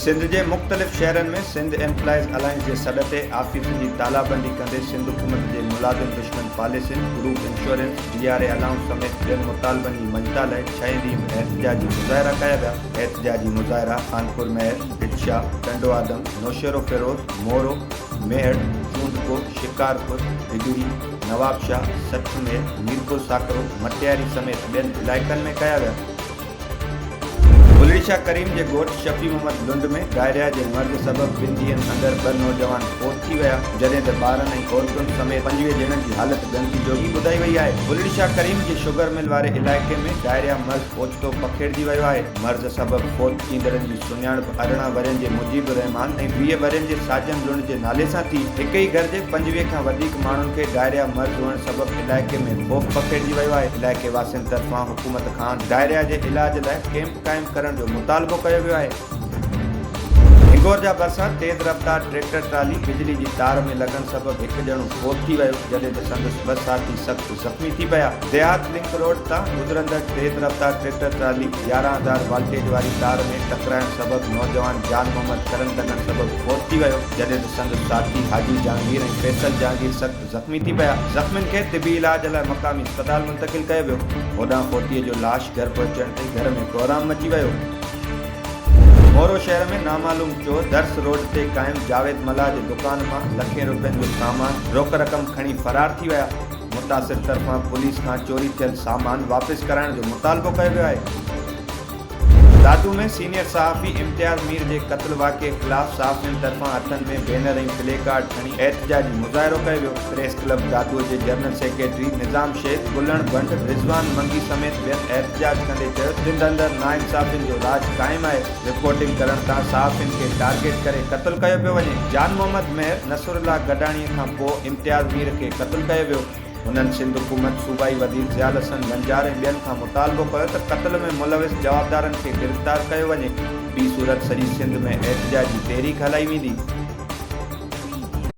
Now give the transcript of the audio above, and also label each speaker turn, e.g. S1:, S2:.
S1: سنڌ جي مختلف شهرن ۾ سنڌ ايمپلائيز الائنس جي سڏ تي آفيسن جي تالابندي ڪندي سنڌ حڪومت جي ملازم دشمن پاليسين، group insurance, D R A allowance سميت ٻين مطالبن جي مڃتا لائي ڇهين ڏينهن به احتجاجي مظاهرا ڪيا ويا. احتجاجي مظاهرا خانپور مهر، ڀٽشا، ٽنڊوآدم، نوشهروفيروز، مورو، ميهڙ، چونڊڪو، شڪارپور، ڍڳڙي، نوابشاهه، سٺ مير، ميرپور ساڪرو، مٽياري سميت ٻين علائقن ۾ ڪيا ويا. بلڙيشاهه ڪريم جي ڳوٺ شفيع محمد لنڊ ۾ ڊائريا جي مرض سبب ٻن ڏينهن اندر ٻه نوجوان فوت ٿي ويا، جڏهن ته ٻارن ۽ عورتن سميت پنجويهه ڄڻن جي حالت ڳڻتي جوڳي ٻڌائي وئي آهي. بلڙيشاهه ڪريم جي شگر مل واري علائقي ۾ ڊائريا مرض اوچتو پکيڙجي ويو آهي. مرض سبب فوت ٿيندڙن جي سڃاڻپ ارڙهن ورهين جي مجيب الرحمان ۽ ويهه ورهين جي ساجن لنڊ جي نالي سان ٿي. هڪ ئي گهر جي پنجويهه کان وڌيڪ ماڻهن کي ڊائريا مرض هئڻ سبب علائقي ۾ خوف پکيڙجي ويو آهي. علائقي واسين طرفان حڪومت کان ڊائريا جي علاج لاء ڪيمپ قائم ڪرڻ جو مطالبو ڪيو ويو آهي. هنگور جا ڀرسان تيز رفتار ٽريڪٽر ٽرالي بجلي جي تار ۾ لڳڻ سبب هڪ ڄڻو فوت ٿي ويو جڏهن ته سندس ٻه ساٿي سخت زخمي ٿي پيا، ديهات لنڪ روڊ تان گذرندڙ تيز رفتار ٽريڪٽر ٽرالي يارهن هزار والٽيج واري تار ۾ ٽڪرائڻ سبب نوجوان جان محمد ڇرن لڳڻ سبب فوت ٿي ويو، جڏهن ته سندس ساٿي حاجي جهانگير ۽ فيصل جهانگير سخت زخمي ٿي پيا، زخمين کي طبي علاج لاء مقامي اسپتال منتقل ڪيو ويو، هوڏانهن فوتيء جو لاش گهر پهچڻ تي گهر ۾ ڪوهرام مچي ويو. مورو شهر ۾ نامعلوم چور درس روڊ تي قائم جاويد ملاح جي دڪان مان لکين روپين جو سامان روڪ رقم کڻي فرار ٿي ويا، متاثر طرفان پوليس کان چوري ٿيل سامان واپس ڪرائڻ جو مطالبو ڪيو ويو آهي. دادو ۾ سينيئر صحافي امتياز مير جي قتل واقعي خلاف صحافين طرفان هٿن ۾ بينر ۽ پلي ڪارڊ کڻي احتجاجي مظاهرو ڪيو ويو. پريس ڪلب دادو جي جنرل سيڪريٽري نظام شيخ، گلڻ بنڊ، رضوان منگي سميت ٻين احتجاج ڪندي چيو سنڌ اندر ناانصافين جو راڄ قائم آهي، رپورٽنگ ڪرڻ تان صحافين کي ٽارگيٽ ڪري قتل ڪيو پيو وڃي، جان محمد مهر نصرالله گڏاڻي کان پوء امتياز مير کي قتل ڪيو ويو، هنن سنڌ حڪومت، صوبائي وزير ضيال حسن بنجار ۽ ٻين کان مطالبو ڪيو ته قتل ۾ ملوث جوابدارن کي گرفتار ڪيو وڃي، ٻي صورت سڄي سنڌ ۾ احتجاجي تحريڪ هلائي ويندي.